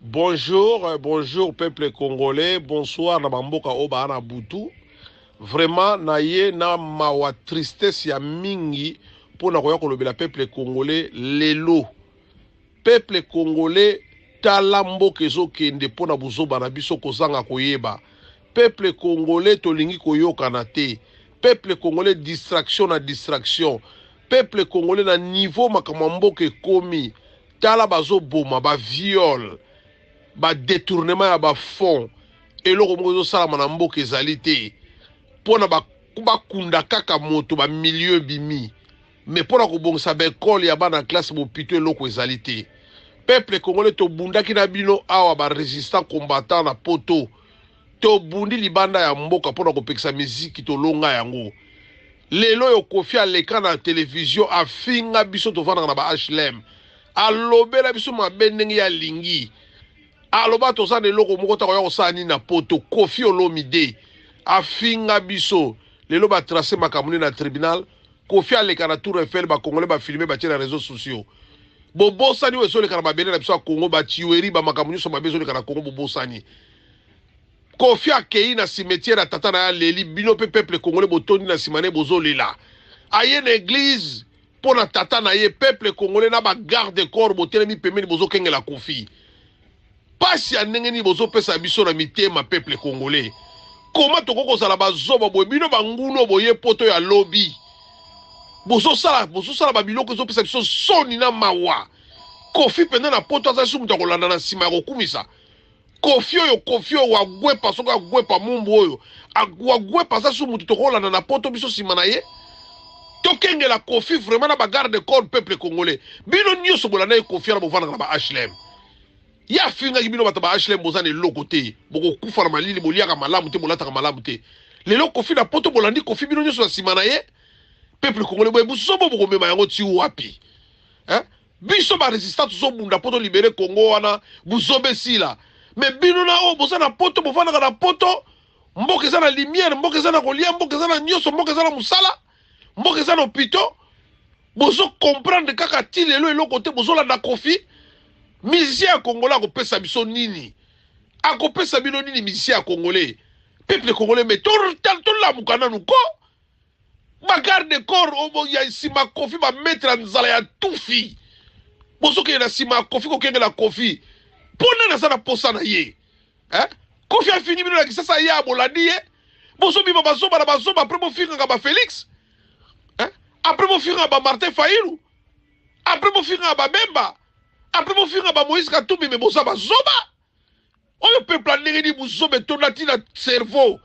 Bonjour, euh, bonjour peuple congolais, bonsoir na bamboka oyo baa na butu. Vraiment na ye na mawa tristesse ya mingi mpo na koya kolobela peuple congolais lelo. Peuple congolais tala mboka ezokende mpo na buzoba na biso kozanga koyeba. Peuple congolais tolingi koyokana te. Peuple congolais distraction na distraction. Peuple congolais na niveau makambo ya mboka ekomi. tala bazo boma ba viol ba detournement ya ba fonds eloko moko ezo salama na mboka ezali te pona ba bakunda kaka moto ba milieu ebimi mais pona kobongisa ba ekole ya bana classe bopito eloko ezali te peuple congolais tobundaki na bino awa ba resistant combattant na poto Tobundi libanda ya mboka mpo na kopekisa miziki tolonga yango. Lelo oyo Koffi aleka na televizyo afinga biso tovandaka na ba HLM. Alobela biso mabe ndenge ye alingi. Aloba toza na eloko moko te akoya kosala nini na poto. Koffi Olomide afinga biso. Lelo ba tracer makambo nde na tribunal. Koffi aleka na tour Eiffel ba congolais ba filmer batie na reseaux sociaux. Bobosani oyo ezoleka na mabele na biso ya Congo ba tueries ba makambo nionso mabe ezoleka na Congo bobosani. Koffi akeyi na cimetière ya tata na ye aleli, bino pe peuple congolais botondi na sima na ye bozo lela. Aye na eglise pona tata na ye, peuple congolais na ba garde corps botelemi pembeni bozo kengela Koffi. Pasi ya ndenge nini bozo pesa biso na mitema peuple congolais? Comment tokoki kozala ba zoba boye? Bino ba ngulu oyo boye poto ya lobi bozo sala bozo sala ba biloko ezo pesa biso soni na mawa. Koffi penza na poto aza lisusu mutu ya kolanda na sima ya kokumisa? Koffi oyo koffi oyo wagwepa soki agwepa mumbu oyo wagwepa aza su mutu tokolanda na poto biso sima na ye tokengela koffi vraiment na ba garde corps peuple congolais bino nyoso bolandaki koffi wana bovandaka na ba hlm ye afingaki bino bato ba hlm boza na eloko te bokokufa na malili boliaka malamu te bolataka malamu te lelo koffi na poto bolandi koffi bino nyoso na sima na ye peuple congolais boye buzobo bokomema yango ti wapi eh? Biso ba resistant tozo bunda po to libere congo wana buzoba esila mais bino na oyo boza na poto bofandaka na poto mboka eza na lumière mboka eza na kolia mboka eza na nyoso mboka eza na musala mboka eza na hopito bozo comprendre kaka ti lelo eloko te bozolanda kofi musicien ya congolais akopesa biso nini akopesa bino nini musicien ya congolais peuple congolais mais tolamuka nanu ko ba garde corps obo ya sima kofi ba maître ya nzala ya tufi bozokende na sima ya kofi kokengela kofi mpo nani aza na posa na ye eh? kofi afingi bino na kisasa ye abolandi ye bozobima bazoba na bazoba apres bofingaka ba félix eh? apres bofingaka ba martin failu apres bofingaka babemba apres bofingaka ba moïse katumbi me boza bazoba oyo peuple ya ndenge nini buzoba etonda ti na cerveau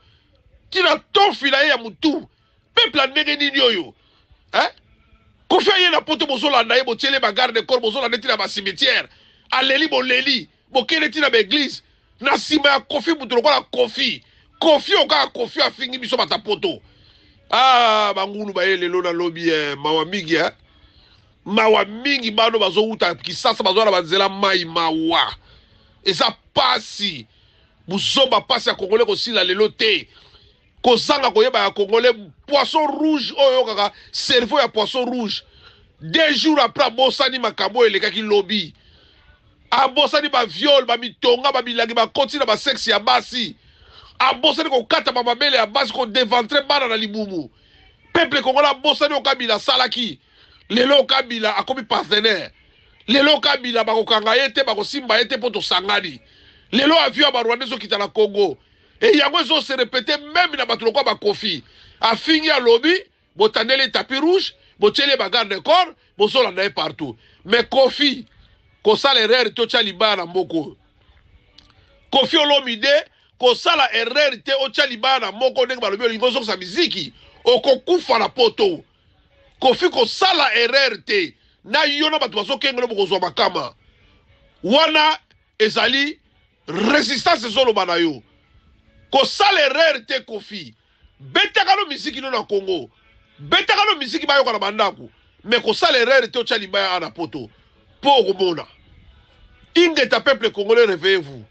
ti na tofi na ye ya mutu peuple ya ndenge nini oyo eh? kofi aye na poto bozolanda ye botiele bagarde corps bozolanda ti na bacimetière aleli boleli bokende ti na baeglise na nsima ya kofi moto lokola kofi kofi oyo kaka kofi afingi biso bata poto ah bangulu baye lelo na lobi eh, mawa mingi eh? Mawa mingi bano bazowuta kisasa bazoya na banzela mayi mawa eza pasi buzoba pasi ya congolais kosila lelo te kozanga koyeba ya congolais poisson rouge oyo oyokaka cerveau ya poisson rouge deux jours après abosani makambo oyo elekaki lobi abosani ba viol ba mitonga ba milangi bakoti na ba sexe ya basi abosani kokata ba mabele ya basi ko deventre bana na libumu peuple congolais abosani oyo kabila asalaki lelo kabila akomi partenaire lelo kabila bakokanga ye te bakosimba ye te mpo tosangani lelo avion ya barwanda ezokita na congo e yango ezose repete meme na bato lokola bakofi afingi alobi botandeli ye tapi rouge botyeli ye bagarde de corps bozolanda ye partout mais kofi kosala erreur te otya libaya na mboka oyo kofi olomide kosala erreur te otya libaya na moko ndenge balobi olingi ozokisa miziki okokufa na poto Koffi kosala erreur te na yo na bato bazokengelo bokozwa makama wana ezali resistance ezoloba na yo kosala erreur te Koffi betaka no miziki no na Congo betaka no miziki bayoka na bandako mais kosala erreur te otya libaya a na poto po okomona ingeta peuple congolais reveillez vous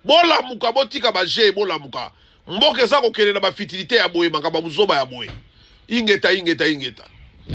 Bolamuka botika ba jeux bolamuka mboka eza kokende na ba fitilite ya boye makambo ya buzoba ya boye ingeta ingeta ingeta.